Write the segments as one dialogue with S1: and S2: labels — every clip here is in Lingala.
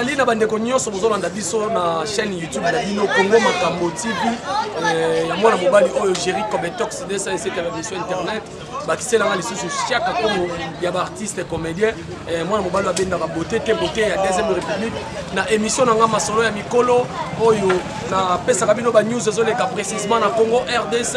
S1: tozali na bandeko nyonso bozolanda biso na chaîne youtube na bino congo makambo tv eh, ya mwana mobali oyo géri cometox 207 ya bamission internet bakiselanga lisusu chaka kongo ya baartiste comédien eh, mwana mobali abendaka bote te bote ya deuxième république na émission na ngai masolo ya mikolo oyo napesaka bino banews ezoleka précisement na congo rdc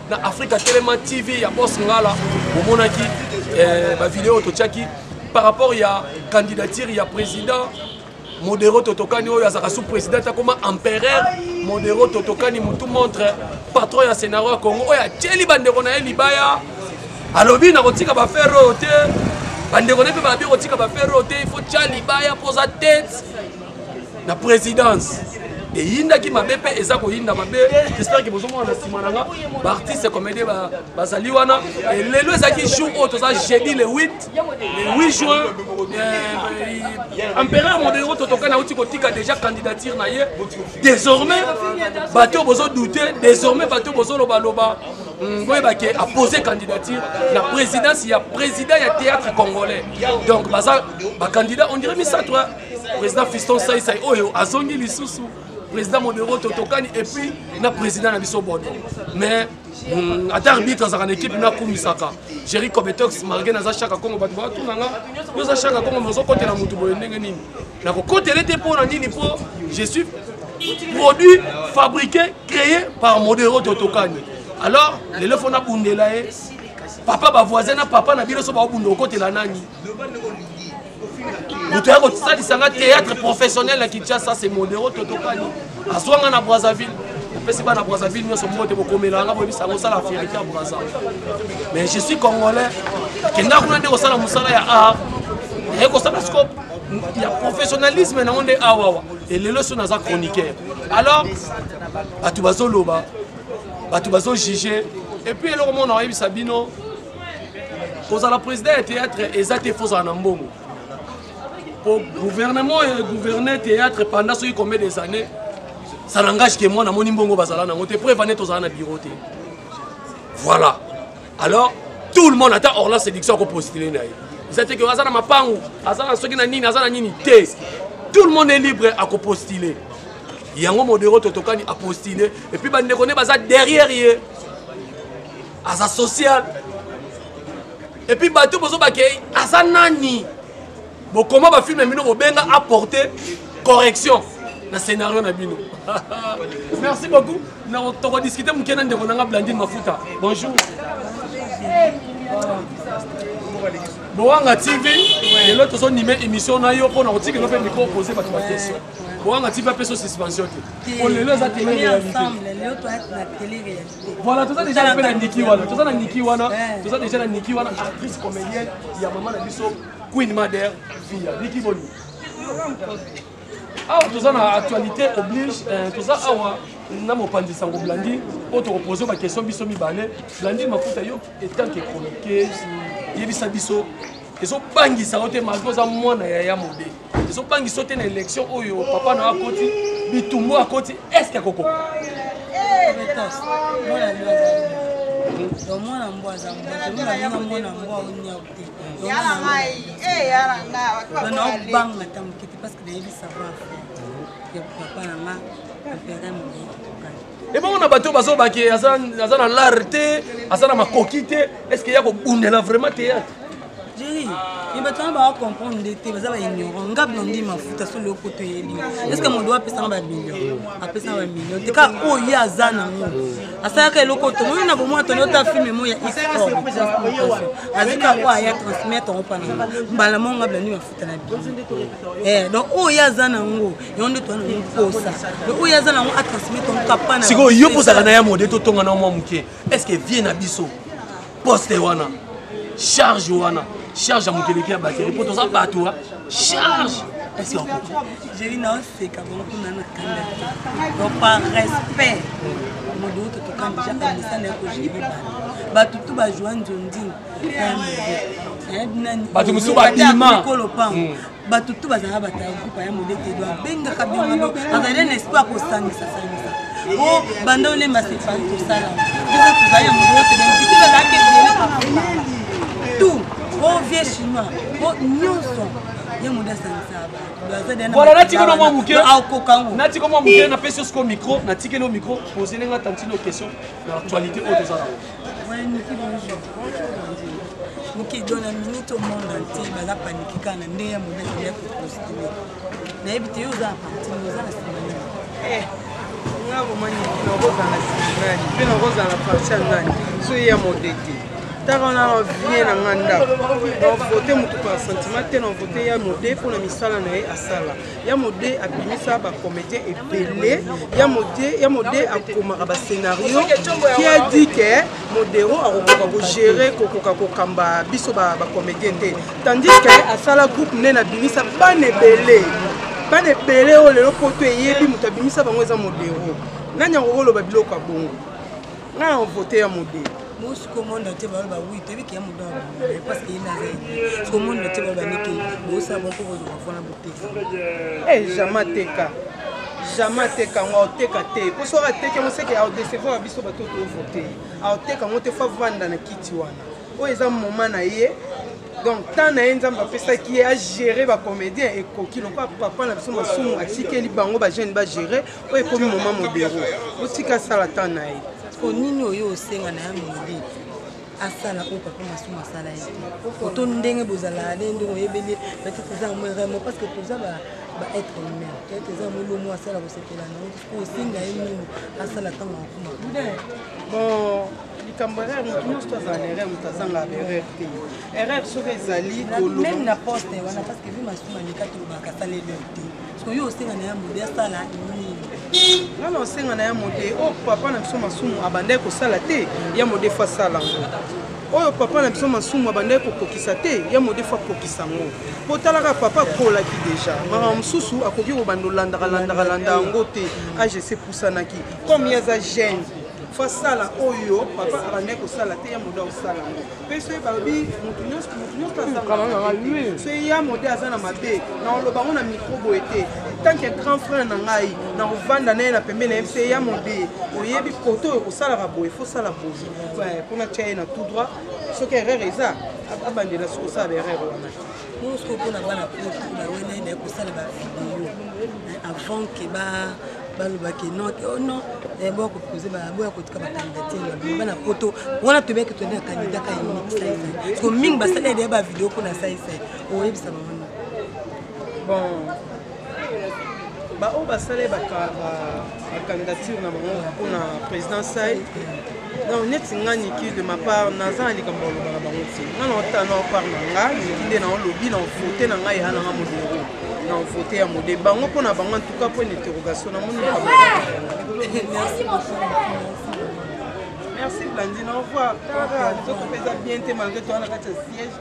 S1: na afrika telema tv ya bos ngala bomonaki eh, bavideo oyo totyaki par rapport ya candidature ya président modero totokani oyo azalaka sous président akoma empereur modero totokani mutu montre patron ya scénario ya congo oyo atyeli bandeko na ye libaya alobi nakotika bafere oyo te bandeko na ye mpe balobi kotika bafere oyo te ifo tya libaya mpo oza tete na présidence eyindaki mabe mpe eza koyinda mabe j'espère que bozomona na nsima na nga baartiste comédie bazali wana lelo ezalaki jour oyo toza jeudi le 8 le 8 juin euh, empereur modero totoka nauti kotika déjà candidature na ye désormais bato oyo bozodoute désormais bato oyo bozolobaloba hmm, boyeba ke apose candidature na présidence ya président ya théâtre congolais donc baza bacandidat on dirait misato président fiston saisai oyo azongi lisusu président modero totokani epuis na président na biso bodo mais mm, ata arbitre azalaka na équipe nakumisaka géri cobetox marge naza shaka kongo bato batuna nga yo oza shaka kongo ozokotela motu boye ndenge nini nakokotele te mpo na nini mpo je suis produit fabriqué créé par modero totokani alors lelo fo nabundela ye papa bavoisin na papa na bino so baobunda okotela nani moto ya kosalisa nga théâtre professionnel na kinshasa se modero totokani azwa nga na brazzaville opesi bana brazzaville nyonso moko te bokomela yanga boyebisa yango osala afirike ya brazza mais je suis congolais kenda kuna nde kosala mosala ya art naye kosala scope ya professionnalisme nango nde awawa elelo so naza chroniqueur alors bato bazoloba bato bazojuge epuis eloko moko na koyebisa bino kozala président ya théâtre eza te fo ozala na mbongo po gouvernement oyo egouverne théâtre pendant soki combien des années ça n'engage que moi namoni mbongo bazala nango te preuve ane tozala na bureau te voilà alors tout le monde ata orla séduction akopostile na ye eza te ke aza na mapangu aza na soki na nini aza na nini te tout le monde est libre akopostile yango modero totokani apostile epuis bandeko nde baza derrière ye aza social epuis bato bozobake aza nani bokoma bafilme ya bino bobenga apporte correction na scénario na bino merci beaucoup tokodiskute moke na ndeko nanga blandine mafuta bonjour bowanga tv lelo tozonime émission na yo mpona kotikelo mpe micro pose bato baquestion bowanga tv apesa suspension te po lelo eza tele réalité Voilà, toza déjà na pena Niki wana, toza na Niki wana, eh. toza déjà na Niki wana actrice comédienne ya maman na biso Queen Mother Via. Niki Boni. awa ah, toza na actualité oblige eh, toza awa na mopanzi sango blandi oyo tokopose baquestion biso mibale blandi mafuta yo etanke chroniqueuse yebisa biso ezobangisa yo te malgre oza mwana yaya mobe ezobangisa yo te na élection oyo papa na yo akoti bitumbu akoti estce akokoka mwana mbwa aza mbwaomona mwana mbwa oniau te naobanga ata moke te parce que nayebi savoir faire ya papa na nga impere moye ebongo na bato oyo bazoloba ke aza na lare te aza na makoki te est ce que ya kobundela vraiment théâtre jeri
S2: ye bato wana baa comprendre nde te baza baignorant ngabi na ndi mafuta solo yo poto eyebi est ce que modo apesanga bamillion apesanga bamillion te kaka oyo ye aza nango asalaka eloko tomoni na bomoi toni ota filme mo ya esport azika oyo aya transmettre opa nango mbala mo ngabi na ndi mafuta tala eh, donc oyo ye aza nango yango nde toa nango mposa donc oyo ye aza nango atransmete yango kapa na sikoyo yo mpozaka na ya
S1: mode totonga na mwa moke est ce que vie na biso poste wana charge wana charge ya mokeleki ya bateri mpo toza bato wa charge est ce que okoki jeli naoseka
S2: bango kuna na kanda te donc par respect modo oyo totokani déjà amesana ya kojeli bato bato tu bajua nzondini
S1: bato mosusu babima bato
S2: tu bazalaka bataya kupa ya modete edo abengaka bengado azali na espoir kosangisa sangisa o banda olemba separi tosala biso tozali ya modete bengiti bazalaki ebele tu o vieux chinois o nyonso ye mode asangisaka bato
S1: natika no mwa moke natika mwa moke napesi yo sikoyo micro natikeli yo micro poselenge atantino question na actualité oyo
S2: toza nango mokili do na minute au monde entier baza paniki kaka na ndenge ya mobeko ya koconstruire nayebi te yo oza na parti oza na nsima nani eh,
S3: nga bomani nakozala nsima nani mpe nakozala parti ya nani so ye ya mode te tala wana na vie na nga ndako na vote motu par sentiment te na vote ya mode mpo na misala na ye asala ya mode abimisa ba comédien ebele ya mode ya mode akomaka ba scénario qui a dit que modero akokoka kogere kokoka kokamba biso ba comédien te tandis que asala groupe nene abimisa bana ebele bana ebele oyo lelo poto eyebi moto abimisa bango eza modero nani akokoloba biloko ya bongo ngai na vote ya modero bosi komonda
S2: te balo bawi toyebi ke ya modo parce que ye naza ye sokomonda te balo banike bosala boko kozwa fona Eh,
S3: jama teka jama teka yango aoteka te mpo soki ateki yango seke aodecevoir ya biso bato tovote aoteka yango te fo avanda na kiti wana oyo eza moma na ye donc temps na ye nzambe apesaki ye agere bacomédien ekoki lokola papa na biso masumu atikeli bango bajeune bagere oyo ekomi moma modero otika asala temps na ye mpo nini oyo
S2: osenga na ya midi asala oyo papa masumu asala ye te oto ndenge bozalaka nde ndenge oyebeli peut-être eza yango erreur mo parce que toza ba être humain peut-être eza yango lomo asala kosepela na yango po osenga ye nini asala ntango akoma bon
S3: likambo erreur moto nyonso to azala na erreur moto azanga ba erreur te erreur soki ezali meme na poste
S2: wana parce que vi masumu aleka tolobaka asaleli te soki yo osenga na ya mode asala nini nga na
S3: osenga na ya mode oyo oh, papa na biso masumu abandaki kosala te ya mode fo asala yango oyo papa na biso masumu abandaki kokokisa te ya mode fo akokisa yango mpo talaka papa akolaki deja makambo mosusu akoki kobanda olandaka landaka landa yango te age esepusanaki comme ye aza jeune fo asala oyo papa abandaki kosala te ya mode akosala yango mpe soki balobi moto nyonso moto nyonso azangaa soki ya mode aza na mabe naoloba yango na mikro boye te tanke grand frère na ngai na kovanda na ye na pembe na ye mpe ya mode oyebi kote oyo kosalaka boye fosala boye mpona tya ye na tout droit soki erreur eza abandela soki osala erreur wana Mosco mpo na
S2: bana poto bawelai baye kosala bavideo eh, avant ke balobaki note o oh non eh, boya kopose boya kotika bakandidature na bango bana poto wana toyebaki toyende na kandida ka unique saisai parceke mingi basali ya deya bavideo mpo na saisai oyebisa bango
S3: bon baoyo basali bacandidature na bango mpona président sai donc neti nga niki de ma part naza na likambo ya loba na bango te nga na ota na part na nga niki nde na olobi na vote na ngai ya na nga modero na vote ya mode bango mpo na bango antuka mpo na interrogation na moni likambo merci blandine au revoir talaka nzoto mpenza bien te malgré toa na kati ya siège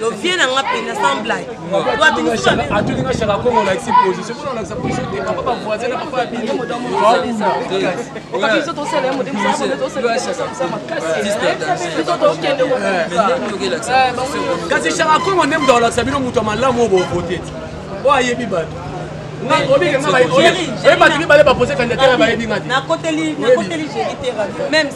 S2: no vie na nga mpenza sans blague atulinga shaka kongo
S1: olakisi position mpona olakisa position te papa bavoisin na papa ya binokasi shaka kongo nde moto akolakisa bino moto ya malamu oyo bovote ti oyo ayebi bato oyebi bato mibale bapose kandidatere bayebi nga te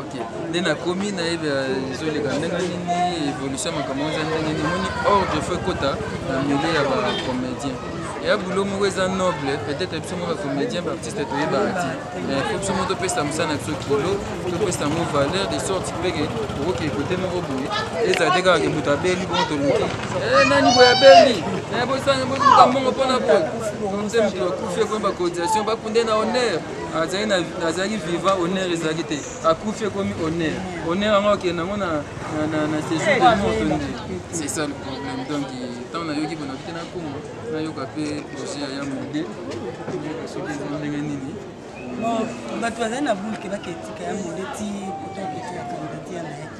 S2: ok nde
S4: nakomi nayebi ezoleka ndenge nini évolution makambo eza ndenge nini moni ordre fo ekota na milieu ya bacomédien ya boulot moko eza noble peut-être biso moko bacomédien baartiste toyebaka ti mais fo biso moko topesa mosala na biso kilo topesa yango valeur de sorte peke okoki ekote moko boye ezala te kaka ke moto abeli bongo toluki eh, nani boye abeli eh, bosanga bozuka mbongo mpona boye nze moto bakufi ekomi bacotisation bakunde na honneur azali na azalaki vivant honneur ezalaki te akufi ekomi honneur honneur yango akende yango na séjour de moto nde c'est ça le problème donc ntango nayoki mpona te nakoma nayoka mpe projet ya ya mode nayoka soki eza ndenge nini
S2: bato bazali na bulke baketika ya mode ti kotoketo ya kandidati ya naye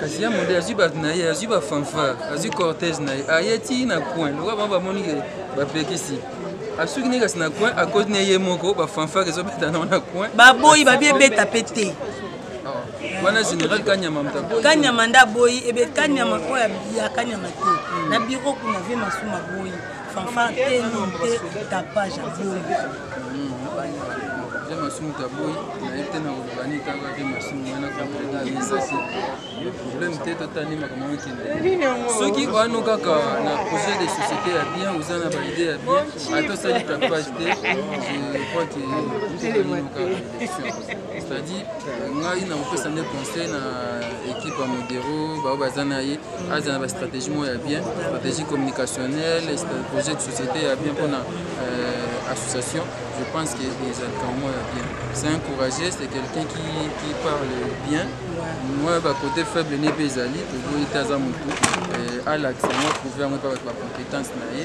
S4: kasi ya modele azwi bato na ye azwi bafanfare azwi cortège na ye aye ti na coin lokola bango bamoni ke bapekisi asuki ne kasi na coin akoti ne ye moko bafanfare ezobeta nango na coin baboyi babi ebeta
S2: mpe te ah,
S4: wana général kanyama kanyama nde aboyi
S2: ebe kanyama oyo ya kanyama te na biro kuna vie masuma boyi Fanfan te nini te tapage
S4: ya boye. Bien masumu ta boyi nayebi te na koloba nini kaka te masumu wana kompleta yeza te problème te totani makambo okende soki wano kaka na projet de société ya bien oza na baide ya bien ata osali tapage te je crois que c'est-à-dire ngai nakopesa nde conseil na équipe ya modero baoyo baza na ye aza na bastratégie moko ya bien stratégie communicationnelle projet de société ya bien mpona euh, association je pense que ezalaka moko ya bien c'est un courageux c'est quelqu'un qui, qui parle bien moi bacoté faible ne mpe ezali toboyi te aza motu euh, alakisa yango prouve yango mpe bato bacompétence na ye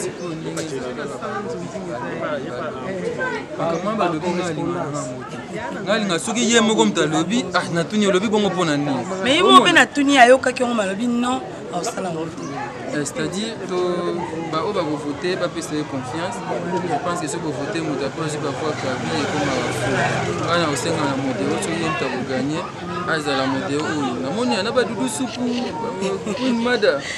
S2: sikoyo
S4: ndenge ezali na sala nzonzi makambo balobi nga alingaka na moto nga alinga soki ye moko moto alobi ah, natuni olobi bongo mpo na nini mais ye moko mpe natuni
S2: ayokaki yango malobi non aosala yango te eh, c'est-à-dire
S4: baoyo bakovote bapesa ye confiance je pense que soki bovote moto apres azwi bavoi kabi ekomaka fo nga na kosenga na moto oyo soki ye moto akoganye azala moto oyo namoni ana badudu supu mada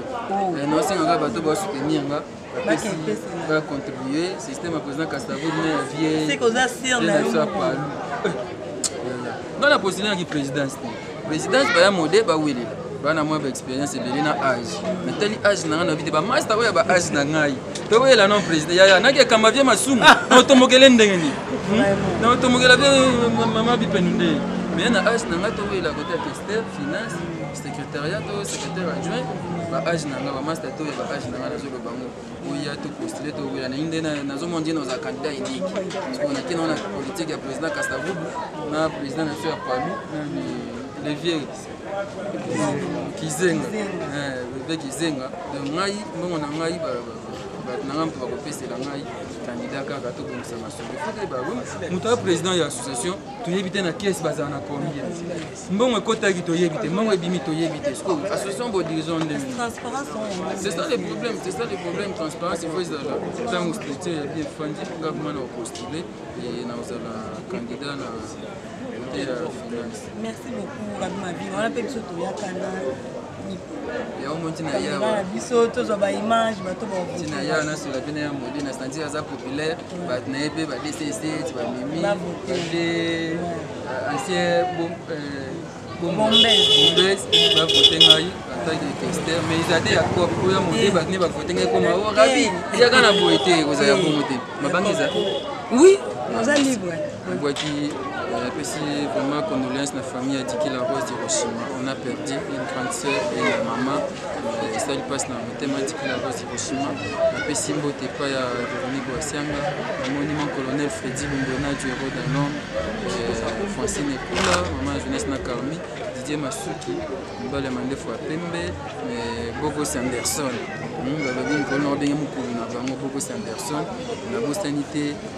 S4: Eh, naosenga kaka bato basoutenir nga bacontribue système ya président castavour na ya vieilleapalou nga na postule naki présidence te présidence baya mode bawelela bana mwa baexpérience ebele na age natali age na ngai na vite bamasta oyo ya ba age na ngai tokoyela non président yaya naki ekamba vie masumu naotomokele ndenge nini hmm? naotomokela vie mama bipenu nde mais na age na ngai tokoyela kote ya tester finance secrétariat to secrétaire adjoint ba age na nga ba master to ya ba age na nga nazo loba ngo oya to postuler to wela na inde na nazo mon dino za candidat unique parce qu'on a kina na politique ya président Kasavubu na président na sœur Kwame le vieux Kizenga eh le vieux Kizenga de ngai mbongo na ngai ba bato na ngai mpo bakopesela ngai candidat kaka tobongisa masolo fo toyeba moto ya président ya association toyebi te na kese bazala na combien mbongo ekotaki toyebi te mbongo ebimi toyebi te sikoyo association bo dirigeant nde c'est ça le problème c'est ça le problème transparence efo ezala ntango structure ya bien fandi nga bima na opostule e nakozala candidat na kote ya finance merci beaucoup
S2: rabima bi wana mpe biso toyakana
S4: na biso tozwa
S2: baimage bato baotinaya nasola mpe
S4: na ya mode na sentir aza populaire bato na ye mpe ba dcc ti bamemi bade ancien bombes bavote ngai antake tester mais eza te ya cop oyo ya mode bato ne bavote ngai koma o rabi ezaka na boye te ekozala ya bongo te mabangi eza oui
S2: oza libre Nabwaki
S4: napesi vraiment condoléance na famille ya Diki la Rose Hiroshima. On a perdu une grande sœur et une maman. Euh, esali mpasi na motema Diki la Rose Hiroshima. Napesi mbote epai ya Véronique Boasianga, namoni mon colonel Freddy Lumbona du héros d'un homme, euh, Francine Ekula, maman ya jeunesse na Carmi, Didier Masuki, mobali ya mandefu ya pembe, euh, Bogos Anderson. Hmm, balobi nkolo na babenge mokolo na bango Bogos Anderson, nabosani te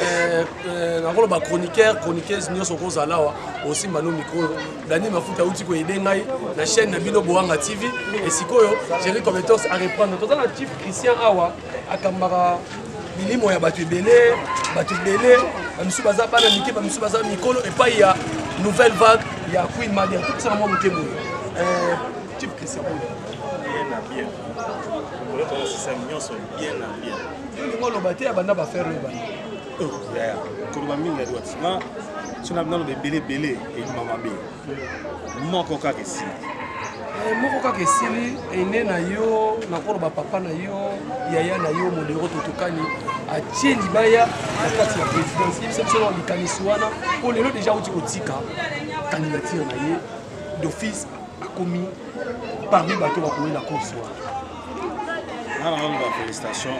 S1: Eh, eh, nakoloba chroniqueur chroniqueuse nyonso okozala awa osimba no mikro oyo dani mafuta auti koyede ngai na chaîne na bino boanga tv e sikoyo jerry cometos areprendre toza na chief christian awa akambaka bilimo ya bato ebele bato ebele bamisusu baza bana mike bamisusu baza mikolo epai ya nouvelle vague ya queen madia tokisaka mwa moke boye eh, chief christian oyo bien na
S5: bien kolokosisa nyonso bien na bien olingi
S1: oloba te abanda bafere oyo bana
S5: koloba mingi yadi wati nga so naloba ebele ebele elima mabe moko kaka esili eh, moko
S1: kaka esili ene na yo nakoloba papa na yo yaya na yo modero totokani atie libaya na kati ya présidence yebisa biso na likanisi wana mpo lelo deja auti kotika candidature na ye d'office akomi parmi bato bakomi na course wana nga nanga loba
S5: félicitation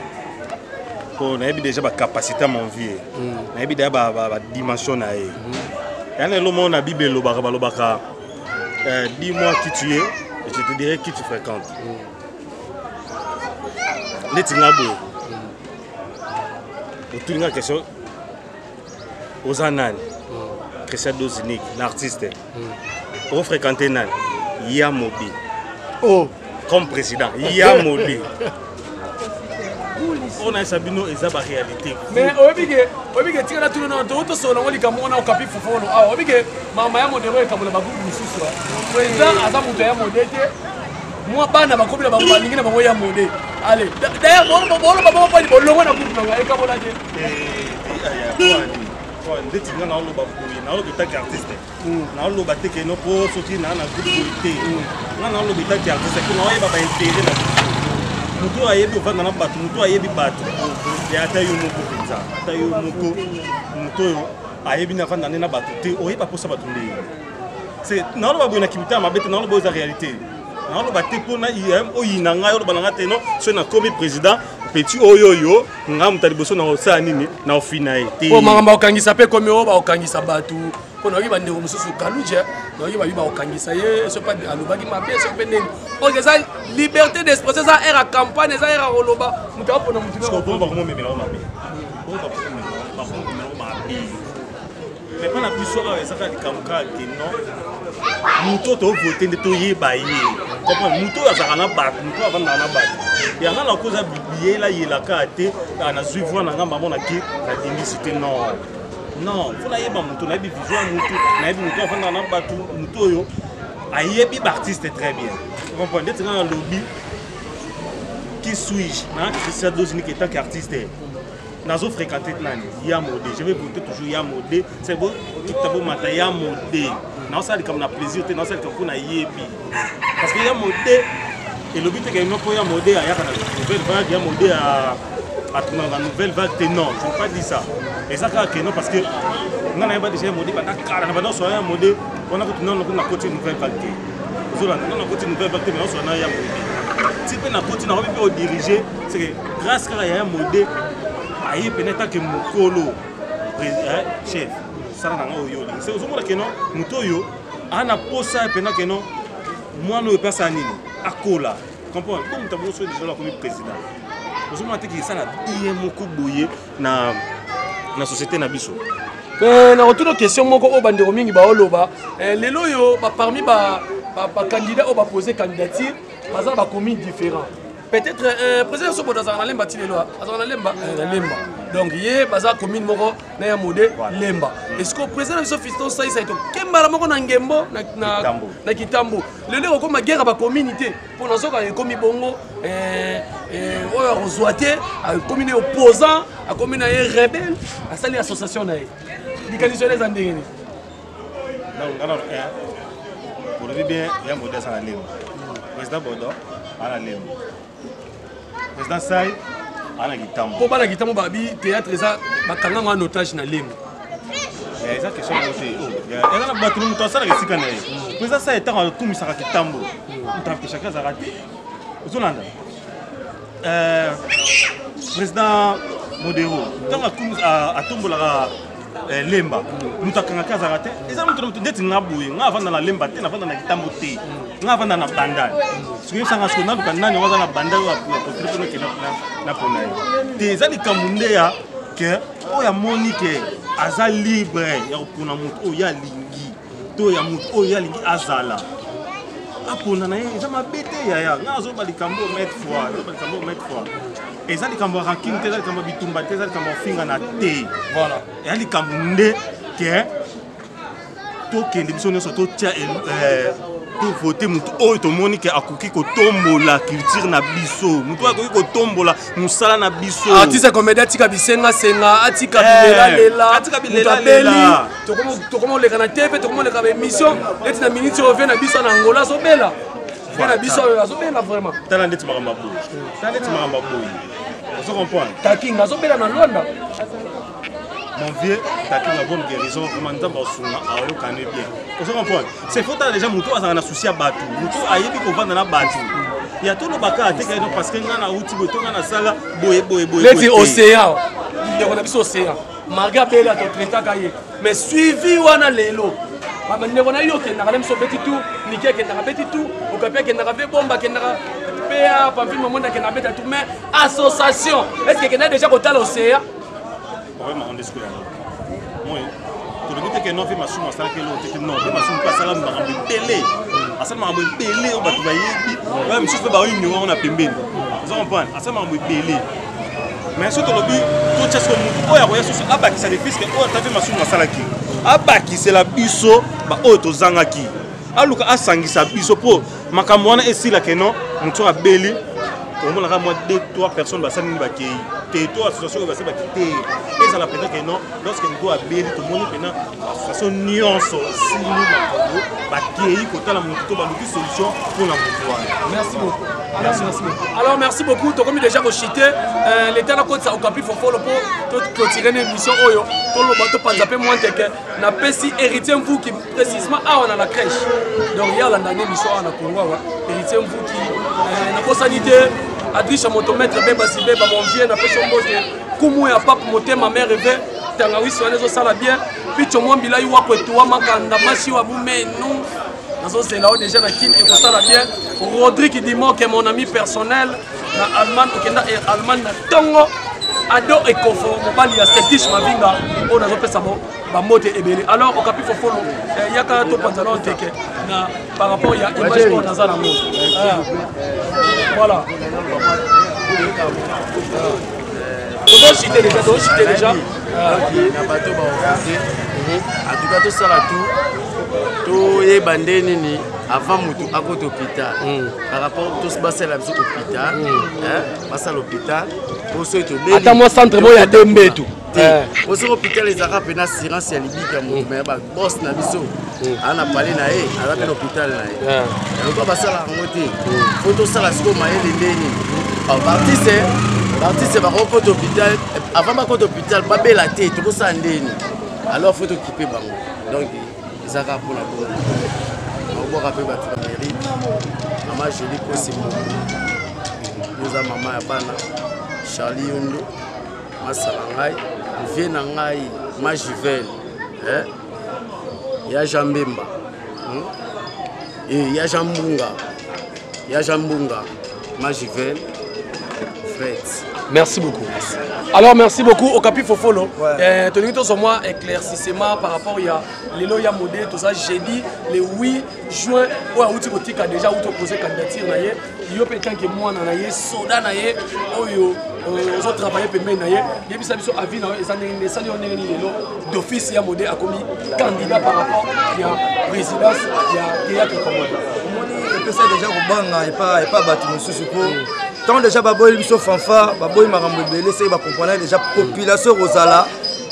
S5: po nayebi déjà bacapacité ya monvie mm. nayebi deja badimension na ye mm-hmm. yana elo moko na bible elobaka balobaka euh, dis moi qui tu es et je te dirai qui tu fréquente mm. neti nga boye mm. otuli nga question oza nani christian dosinique na artiste ofréquente nani ya mobi oh. comme président ya mobi oyo nayesa bino eza baréalité mais oyebi ke
S1: oyebi ke tikala tuna nano too tosolola yango likambo wana okapi fofolo awa oyebi ke mama ya modero ekabola bakuku mosusu président aza moto ya mode te mwa bana bakomi na bango balingi na bango ya mode ale dayere boloba bongo pali bolongo na kuku nanga ekabola te eh, eh, eh,
S5: ndeti nga naoloba boye naoloba etaki artiste mm. naoloba te keno mpo soki naa na groupe boye te mm. nga naoloba etaki artiste kino oyeba baintere na moto oyo ayebi ovanda na bato moto oyo ayebi bato ya ata yo moko mpenza ata yo moko moto oyo ayebi na avanda nde na bato te oyeba mposa bato ndeye se naoloba boye na kimitana mabe te naoloba oyo eza réalité naoloba te mpo oyina ngai oloba na ngai te no soki nakomi président petit oyo oyo ngai moto ya liboso na kosala nini na ofina ye te po makambo akokangisa mpe
S1: ekomi oyo bakokangisa bato mpo nayoki bandeko mosusu kaluja nayoki babi bakokangisa ye soki mpe alobaki mabe soki mpe ndenge donc eza liberté d'expression eza aire ya campagne eza aire ya koloba moto apona motu
S5: mais mpo na biso awa eza kaka likambo kaka te non moto oyo tovote nde toyeba ye comprendre moto oyo azalaka na bato moto oyo avandaka na bato yanga na koza biyela yela kaka te ah, nazwi voi na nga mamona ke nalingisi te non non mpo nayeba moto nayebi vision ya moto nayebi moto oyo avandaka na bato moto oyo ayebi baartiste très bien comprendre ndeti nga nalobi qui suis-je na christian dosnik etanke artiste nazo fréquenté nani ya mode je vais voter toujours ya mode c'est bon tukuta bomata ya mode naosala likambo na plaisir te naosala likambo mpo nayebi parce que ya mode elobi te keno mpo ya mode ayaka na nouvelle vague ya mode atunaka nouvelle vague te non je ne pas dit ça eza kaka keno parce que nga nayeba déjà ya mode banda kala na banda oswana ya mode wana kutu nano kuna koti nouvelle vague te ozolanda nano koti nouvelle vague te mais oswana ya mode ti mpe nakoti nakomi mpe odirige seke grâce kaka yaya mode aye pene tanke mokolo eh, chef sala nanga oyo olingi se ozomona keno moto oyo ana posa pena keno mwana oyo epasa nini akola comprendre po moto abongo soki lisolo akomi président ozomona te kisala ye moko boye na na société na biso eh, nakotuna
S1: question moko oyo bandeko mingi baoloba eh, lelo oyo parmi bacandidat oyo bapose candidature baza na bacommune différent peut-être euh, président sobodo azalaka na lemba ti lelo ah. azalaka na lemba eh, na lemba donc ye baza commune moko na ya mode lemba esiko président na biso fiston saisa ye tokembala moko na ngembo na kitambo lelo ekokoma guerre ya bacommune te mpo na soka ekomi bongo eh, eh, oyo akozwa te akomi na ye opposant akomi na ye rebelle asali association na ye likanisi wana eza ndenge nini
S5: donc nga na eh, olobi bien ya mbodi aza na lembo président bodo aza na lembo président sai aza na kitambo mpo bana kitambo babi
S1: théâtre eza bakanga ngo en otage na lembo eh, eza
S5: question yango te oh, eh, eza na bato moto asalaka esika na ye mpo eza sai ntango akumisaka kitambo moto ampeshaka azalaka te ozolanda Euh, président modero ntango atombolaka euh, lemba moto akangaki azalaka te eza moto na moto ndeti nga boye nga avanda na lemba te navanda na kitambo te nga avanda na bandal soki yosanga siko naluka nani oyo aza na bandal oyo apostile mpo nokenda na mpona ye te eza likambo nde ya ke oyo amoni ke aza libre ya kopona moto oyo alingi to ya moto oyo ye alingi azala apona na ye eza mabe te yaya nga azoba likambo oyo maitre fois azoba likambo oyo maitre fois eza likambo ya rankine te eza likambo ya bitumba te eza likambo ya ofingana te voilà eza
S1: likambo nde
S5: ke tokende biso nyonso totya eh, tovote motu oyo tomoni ke akoki kotombola culture na biso motu oyo akoki kotombola mosala na biso artiste comedia atika
S1: bisengasenga atika eh, bilelalela atika bilelalela tokoma oleka na tv tokoma oleka ba émission neti na miniti oyo vie na biso na angola azobela vie na biso oyo azobela vraiment tala ndeti makambo aboyi
S5: tala ndeti makambo aboyi ozo comprendre taking azobela na
S1: londres
S5: mon vieux tatu na bonne guérison vraiment nzambe asunga ayokani bien ozo comprendre c'est faut tala déjà moto azalaka na souci ya bato moto ayebi kovanda na bato ya tolobaka ateka ino parce que ngai nauti boye to ngai nasala boye boye boye neti
S1: océan ndeko na biso océan marga bela totretaka ye mais suivi wana lelo bandeko na yo okendaka na biso obeti tour niki akendaka beti tour okapi akendaka ve bomba akendaka pa pamfile mamonde akendaka beta tour mais association est ce que ekendaki déjà kotala oseya
S5: tolobi te keno mpe masumu asalaki eloko te te non mpe masumu mpe asala makambo ebele asala makambo ebele oyo bato bayebi oyo misusu mpe baoyo nyongo yango na pembeni oza comprendre asala makambo ebele mais soki tolobi totya soko motu oyo akoya susu abakisa lefiske oyo ata mpe masumu asalaki abakisela biso baoyo tozangaki aluka asangisa biso mpo makambo wana esila keno motu oyo abeli omonaka mwa 2 3 personnes basali nini bakei te to association oyo basali baki te ezala mpenza keno lorsque moto abeli tomoni mpena façon nyonso sili makambo bakei kotala moto to baluki solution mpo na moto wana merci
S1: beaucoup Merci. Merci. Alors merci beaucoup, tokomi déjà kochite euh, l'État nakotisa okapi fofolo mpo toclotire na émission oyo toloba topanza mpe mwa nteke napesi héritier mvuki précisement awa na la crèche donc ye alanda na émission awa na congo awa héritier mvuki euh, nakosani te adrisha moto maître bebasi beba mon vieux napesi ombote kumu ya pape motema mere ve tangawisi wana ezosala bien picho mwa mbilai wako etuwa makanda masi wa bumenu nazozela yo deja na kin ekosala bien rodrik dimoke mon ami personnel na allemagne okenda e allemagne na ntongo ado ekofo mobali ya setish mavinga oyo nazopesa bambote ebele alors okapi fofolo eh, yaka topanzana oteke na par rapport ya image oyo naza nango ah. voilà tozosite deja tozosite deja na bato baofase
S6: en tout cas tosala tout toyeba nde nini avant motu akota hôpital hmm. par rapport tous basala biso hôpital hmm.
S1: basala hôpital po soki
S6: tobeli
S1: ata
S6: mwa
S1: centre
S6: moko ya
S1: dembetu te
S6: eh. ozoki hôpital ezalaka mpe na assurance ya libiki ya moto mm. me ya babos na biso mm. aa na pale na ye aza mpe na hôpital na ye eh. yango basalaka yango te fo mm. tosala sikoyo mayele ndeni baartiste baartiste bakokota hôpital avant bakota hôpital babela te tokosala ndeni alors fo tokipe bango donc ezalaka mpona bongo nakobwaka mpe bato na mairie mama joli kosi moto oza mama ya bana charlie yondo masa na ngai vie na ngai majivel eh? ya jean mbemba hmm? eh, ya jean mbunga ya jean mbunga majivel fret Merci
S1: beaucoup. Alors merci beaucoup au Capi Fofolo. Ouais. Euh, Tony Tozo moi éclaircissement par rapport il y a Lelo ya modé tout ça jeudi le 8 juin ou à outil botika déjà ou te poser candidature yo mpe tanke mwana na ye soda na ye oyo euh, ozo travaille pembeni na ye yebisa biso avis na yo eza ndenge nini esali yo ndenge nini lelo d'office ya mode akomi candidat par rapport ya présidence ya théâtre commode omoni epesa
S7: deja kobanga epa bato mosusu mpo ntango deja baboyi biso fanfare baboyi makambo ebele seke bakomprana deja population ekozala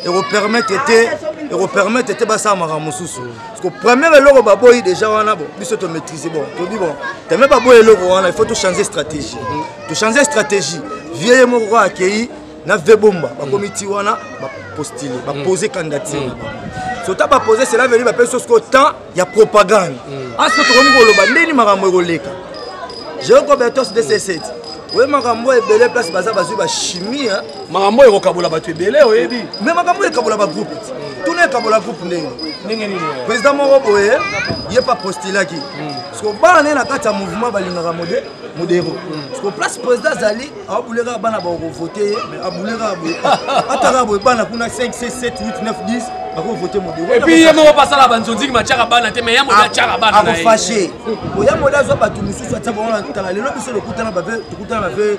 S7: ekopermettre te ekopermettre te basala makambo mosusu Ko premier eloko baboyi déjà wana bon biso to maîtriser bon tobi bon teme baboyi eloko wana il faut to changer stratégie to changer stratégie vieux ye moko kaka akei na ve bomba bakomi ti wana bapostile bapose candidature na bango sota bapose cela veli bapesi so sikoyo temps ya propagande aso tokomi koloba ndeni makambo ekoleka jeocobertos de c7 oye makambo ebele place baza bazwi bachimie makambo oyo ekokabola bato
S1: ebele oyebi me makambo oyo ekabola
S7: bagroupe tuna ekabola groupe ndenge ndenge nini président moko boye ye pa postulaki hmm. siko bana naye na kati ya mouvement balingaka mode modero hmm. siko place président azali abule kaka bana bakovote ye me abule kaka boye ataka boye bana kuna 5 6 7 8 9 10 bakovote modero epuis ye moko basala
S1: banzonziki batiaka bana te me ya mode atiaka bana akofashe
S7: oya mode azwa bato mosusu atia bango na ntala lelo biso lokutana bave tokutana bave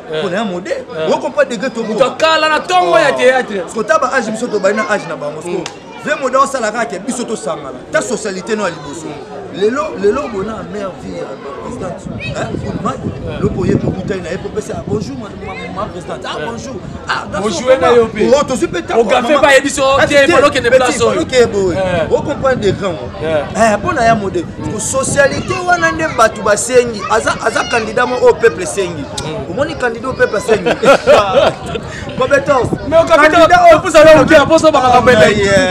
S7: mpona ya mode okompa degre tokala na ntongo
S1: ya théâtre kota ba age biso
S7: tobali na age na bango so ve mode osala kaka biso tosangana ta socialité no ya liboso lelo lelo bona mère vie ya présidente goodman lopo ye mokutani na ye popesa ya bonjour ma présidente ah bonjour bonjour na
S1: yo mpe tozwi mpe tangogafe
S7: bayebi so
S1: te balokende place oyo okeye boye
S7: okomprendre de grand mpo na ya mode socialité wana nde bato basengi aza, aza candidat mo oyo peuple esengi mm. omoni candidat oyo peuple asengi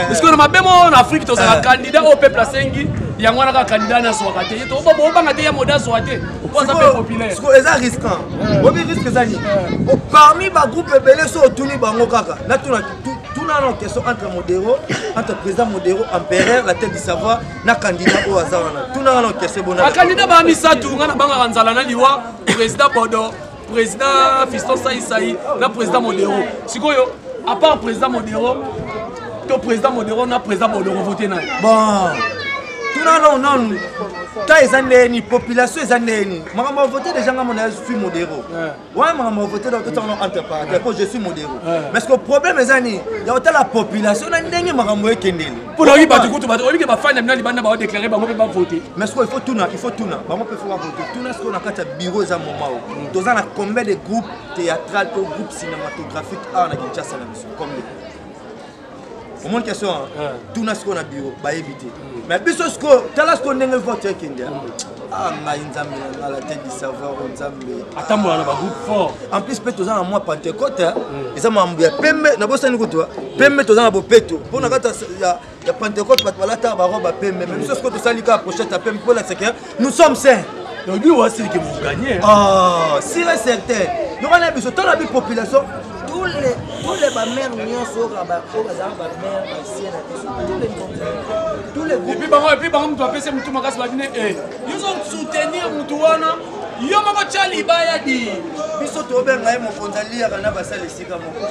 S1: parceque na mabe mo na afrique tozala eh. candidat oyo peuple asengi yango wana kaka candidat nde azwaka te obanga te ya mode azwa te po aza mpe populaire eza risquant
S7: eh. obi risque eza nini eh. parmi bagroupe ebele so otuni bango kaka natuna tuna na question entre modero entre président modero empereur la tête du savoir na kandida oyo aza wana tuna wana okese bona bakandida ba misato
S1: nga na bangaka nzala na liwa président bodo président fiston saisai na président modero sikoyo à part président modero to président modero na président bodoro vote naye bon
S7: tuna nao nanu ta eza ndeni population eza ndeni makambo ya vote deja nga mona ya fi modero wana makambo ya vote totanga no entre parenthèse mpo je suis modero parce que problème eza nini ya kotala population na ndenge makambo ekendeli mpona oyebi bato kutu
S1: bato oyebi ke bafani ya bino libanda baodeklare bango mpe bavote mais sikoyo ifo tuna ifo
S7: tuna bango mpe fo bavote tuna sikoyo na kati ya bureau eza moma o mm. toza na combien de groupe théâtral to groupe cinématographique awa na kinshasa na biso combien omoni question wana eh. tuna sikoyo na biro bayebi te hmm. mais biso sikoyo tala sikoyo ndenge vote ekende hmm. ah, ngai nzambe na ngala te disavoir o oh, nzambe atambola na bagroupe
S1: fort en plus mpe toza na mwa
S7: pentecote hmm. eza mambo ya pembe nabosani kutu pembe toza na bopeto mpo na kati ya pentecote bato balataka baroba pembe mais biso sikoyo tosali kaka prochete ya pembe mpo olakisa ke nous sommes sains toyebi wasili ke
S1: mokanye ah, sire
S7: certain yoka na biso tala bi population tous les tous les bamères nyonso oyo bazala bamère basie na biso tous les tous les groupes epi bango epi bango moto apesi
S1: motu makasi babine e eh, yozo soutenir motu wana yo moko tya libaya di biso
S7: tobenga ye mokonzi aliyaka na basala esika moko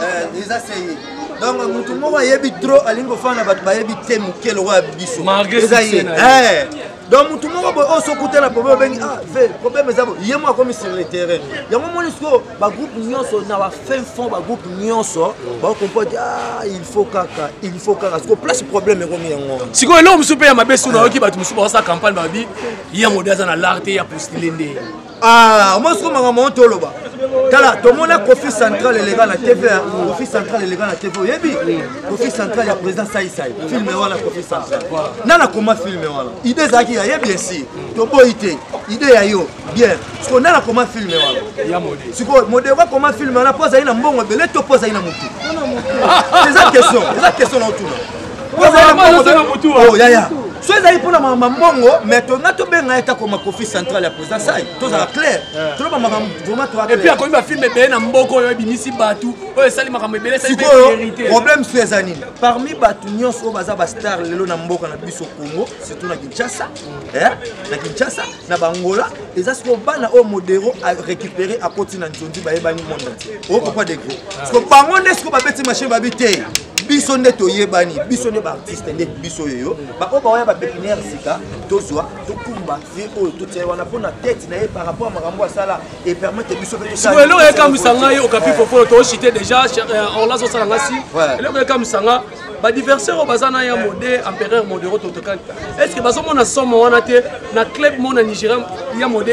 S7: eh, eza seye donc motu moko ayebi trop alingi kofana na bato bayebi te moke lokola biso eza ye eh. donc motu moko boye oyo sokuta na problème obengi ah ve problème eza boye ye moko akomi sur le terrain yango omoni sikoyo bagroupe nyonso na bafin fond bagroupe nyonso bakompoti ah il faut kaka il faut kaka sikoyo place problème ekomi yango sikoyo eloko mosusu mpe ya
S1: mabe sikoyo nayoki bato mosusu baosala campagne babi ye yango de aza na lar te ya postile nde Ah, omoni soko
S7: makambo yango toloba tala tomona kofi central eleka na tv kofi central eleka na tv oyebi kofi central ya président saisai filme wana kofi central na nakoma filme wana idée ezalaki ya ye bien sûr toboyi te idée ya yo bien siko na nakoma filme wana sikoyo
S1: modeko akoma
S7: filme wana mpo azali na mbongo ebele to mpo azali na motu eza question eza question na otuna oh, yaya so ezali mpona makambo mbongo mais tonga tobenga ye takoma kofi central ya président sai tozala clair toloba makambo vraiment toepuis akomi bafilme ebele
S1: na mboka oyo ebimisi bato oyo esali makambo ebele sikoyo problème
S7: so eza nini parmi bato nyonso oyo baza bastar lelo na mboka na biso congo surtout na kinshasa eh, na kinshasa na bangola eza sikoyo bana oyo modero arécupéré akoti na nzondi bayebani monde entier oyo kokwa degre siko bango nde sikoyo babeti machine babi te biso nde toyebani biso nde baartiste nde biso oyo baoyo bawaya bapepiniere sika tozwa tokumba ye oyo totia wana mpo na tete na ye par rapport ya makambo asala epermete biso eloko ekamwisa
S1: ngai okapi fofolo toosite déjà euh, orlas osala ngai si eloko ekamwisa nga badiversaire oyo baza na ya mode empereur modero totokani est ce que bazomona somo wana te na club mona nigeria ya mode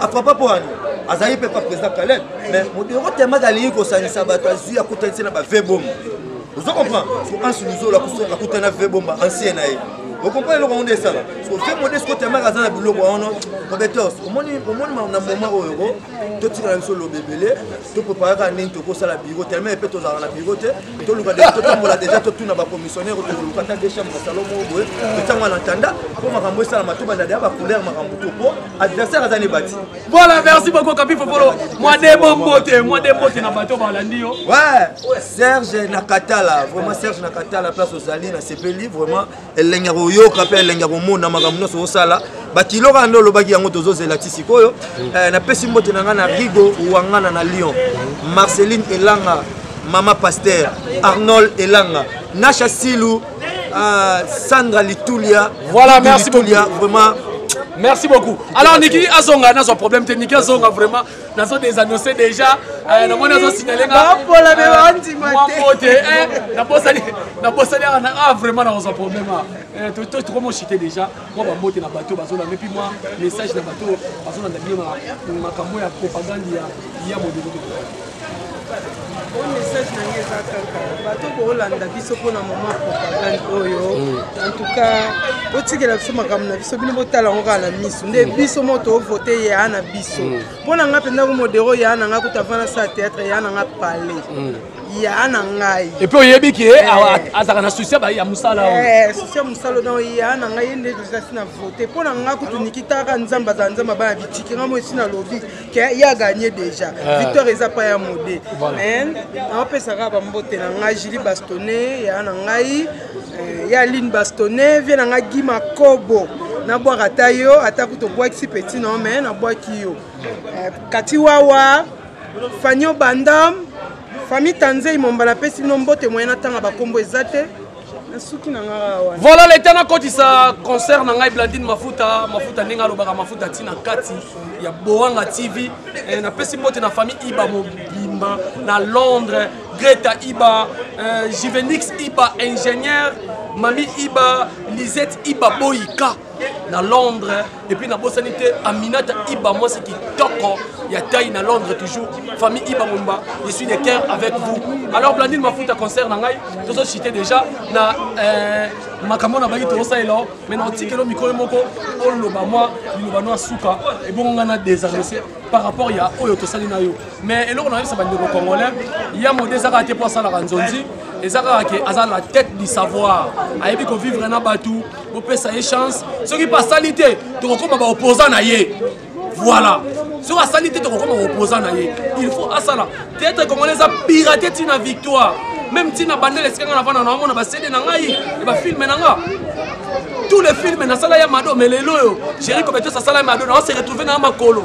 S7: afrapa mpo wani azali mpe pa président kaleb mais modero temaka alingi kosangisa bato azwi akutanisi na bave bomba ozo comprendre so ansi luzolo akutana ve bomba ancien na ye okomprendre eloko yango nde esala sofe modesco temaka aza na biloko wana robetos omoni na moment oyo ko totikala biso loba ebele toprepare kaka ndenge tokosala biro telema epe tozalaka na biro te toluka de totambola deja totuna bacommissionnaire tokoluka ata de chambre na salon moko boye totiango na ntanda mpo makambo esalama tobanda deya bacouleur makambo to mpo adversaire aza nebati voilà merci beaucoup
S1: kapi popolo mwadebo mbote mwade mbote na bato balandi yo ouais serge
S7: na katala vraiment serge na katala place ozali na sepeli vraiment elengi ya koyoka mpe elengi ya komona makambo nyonso osala bakilo kaka nde olobaki yango tozozela ti sikoyo mm. eh, napesi mbote na ngai na rigo wangana na lyon marceline elanga mama paster arnold elanga nasha silu Ah, Sandra Litulia. Voilà, Litulia, merci Litulia,
S1: beaucoup. Vraiment.
S7: Merci beaucoup.
S1: Alors Niki Azonga n'a son problème te Niki Azonga vraiment n'a son désannoncé déjà euh, na mona zo signaler nga. Ba pola be bandi
S3: mate. Moi pote eh
S1: na bosa na bosa na ah vraiment na son problème ah. Eh tu tu tu comment chiter déjà moi ba mbote na bateau bazo na puis moi message na bateau bazo na bien ma makambo ya propagande ya ya modelo.
S3: oyo message na ngai eza kaka bato boolanda biso mpona mama propagande oyo mm. en tout cas botikela biso makambo na biso bino botala yango kaka na miso nde mm. biso mo toovote yaa na biso mm. mpo na ngai mpenza ko modero yaa na ngai kuta avanda sa théâtre yaa na ngai pale yaa na ngai epuis oyebi ke eh.
S1: azalaka na susi ya mosala eh, susi ya mosala
S3: na yaa na ngai ye nde ezasi na vote mpo na ngai kutu nikitaka nzambe azala nzambe abana bitiki ngai mo esi nalobi ye aganye déjà ah. victoire eza pa ya mode mais aopesaka bambote na ngai julie bastone ya na ngai eh, ya aline bastone vie na ngai gi makobo nabwaka ata yo ata kutu obwakisi petit no mais nabwaki yo eh, kati wawa fanio bandam famille tanzei momba napesi bino mbote moyen natanga bakombo eza te Voilà l'état na kotisa
S1: concert na ngai Blandine Mafuta Mafuta ndenge alobaka Mafuta tina kati ya Boanga TV eh, na pesi mbote na famille Iba mobimba na Londres Greta Iba eh, Juvenix Iba ingénieur Mami Iba Lisette Iba Boyika na londres epuis nabosani te aminata iba mwasi kitoko ya tai na londres toujours famille iba momba je suis de cœur avec vous alors blandine mafuta concert na ngai tozochite déjà na euh, makambo na bangi tozosalela o mai na otikelo mikolo moko oloba mwa liloba no ya suka ebongo ngai na désarrese par rapport ya oyo tosali na yo mais eloko nayebisa bandeko congolais ya mode ezaka te mpo asalaka nzonzi eza kaka ke aza la tête du savoir ayebi kovivre na bato bopesa ye chance soki mpe asali te tokokoma baopposant na ye voilà soki asali te tokokoma baopposant na ye il faut asala teatre congolais eza pirate ntina victoire même ntina bandele esika nga navanda naomona basede na ngai e bafilme na nga tous les films nasala ya mado mais lelo oyo géri cobetos asala ya mado naose retrouve na ya makolo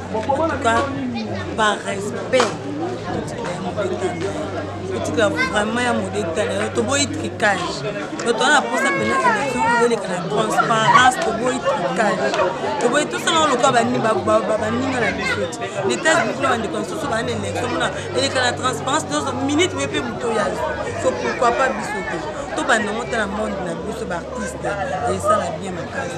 S2: par respect otika vraiment ya modeta na yo toboyi tricage to toza na mposa mpena élection ezoleka na transparence toboyi tricage toboyi tosala lokola baninga na biso ti na états-unis kuna bandeko mosusu baa na élection mona eleka na transparence nyonso minute mpe mpe moto oyo azwi so pourquoi pas biso te tobanda yango ta na monde na biso baartiste esala bien makasi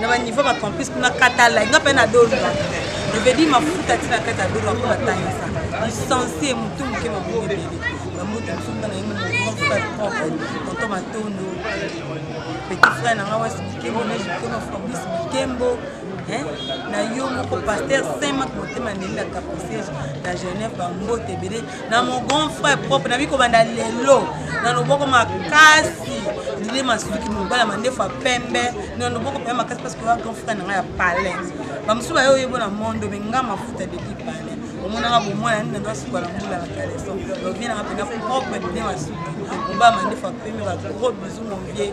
S2: na ba niveau ba campus kuna katala nga pe na dolu je veux dire mafuta ti na kati ya dolu ako batangisa licencie mutu moke mabongo ebele bamutu mosusu na ye grand frère propre tonton matondo petit frère na nga wasi bikembo neje bikembo fabrice bikembo na yo moko paster saint mak motema ndeli na capricege na genève bambote ebele na mon grand frère propre nabi kobanda lelo na loboko makasi ndile masuki mobala mandefu ya pembe na loboko mpenza makasi parce que oya grand frère na ngai ya palais bamosusu baye oyebo na mondo me nga mafuta depuis palais omonaka bomwana nini nanga suka na mbula na caleson ovie nanga mpenza propre ndile masuki mobala mandefu ya pembe ba gros bisou mon vieux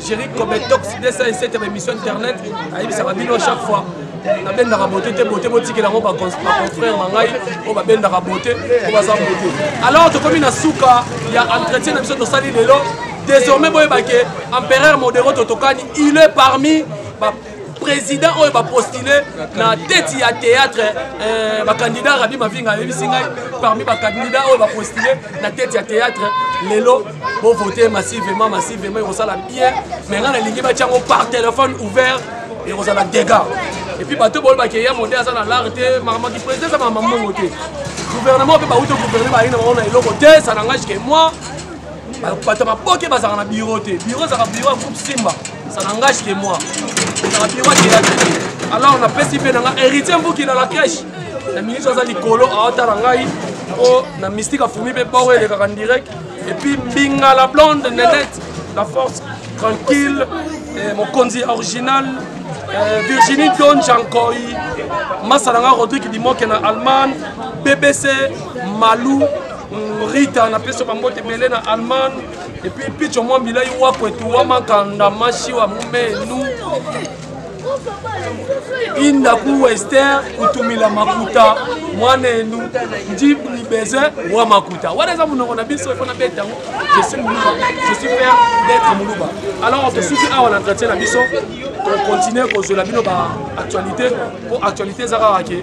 S1: Jerry Kobetox 207 ya ba émission internet ayebisaka bino chaque fois nabendaka bote te bote botikela yango baconfrère na ngai oyo babendaka bote oyo baza bote alors tokomi na suka ya entretien na biso tosali lelo désormais boyebake empereur modero totokani il est parmi président oyo bapostule na tete ya théâtre euh, bacandidat rabi mavinga ayebisi ngai parmi bacandidat oyo bapostule na tete ya théâtre lelo bovote massivement massivement ekosala bien me ngai nalingi batya yango par téléphone ouvert ekozala dégât epuis bato boyo bakeya mode aza na lare te makamaki président eza makambo mongo te gouvernement mpe bauti gouverne balingi na bango na eloko te ça nangage ke moi bato maboke bazalaka na biro te biro ezalaka biro ya groupe simba ça n'engage que moi ezalaka biro akeya te alors napesi mpe na nga héritier mbuki na la crèche na ministre aza likolo aotala ngai o na mystique afumi mpe boro elekaka direct epuis mbinga la blonde nenette la force tranquille eh, mokonzi original eh, virginie don jankoi masala nga rodrigue dimoke na allemagne bbc malou Mm, Rita na peso bambote bele na Allemagne et puis picho mwa bilai wa kwetu wa makanda mashi wa mumenu indaku wester kutumila makuta mwana enu ndi ni besoin wa makuta wana eza monoko na biso efo nabeta yango je suis muluba je suis fier d'être muluba alors tosuki awa na entretien na biso tokontinue kozwela bino ba actualité mpo actualité eza kaka ke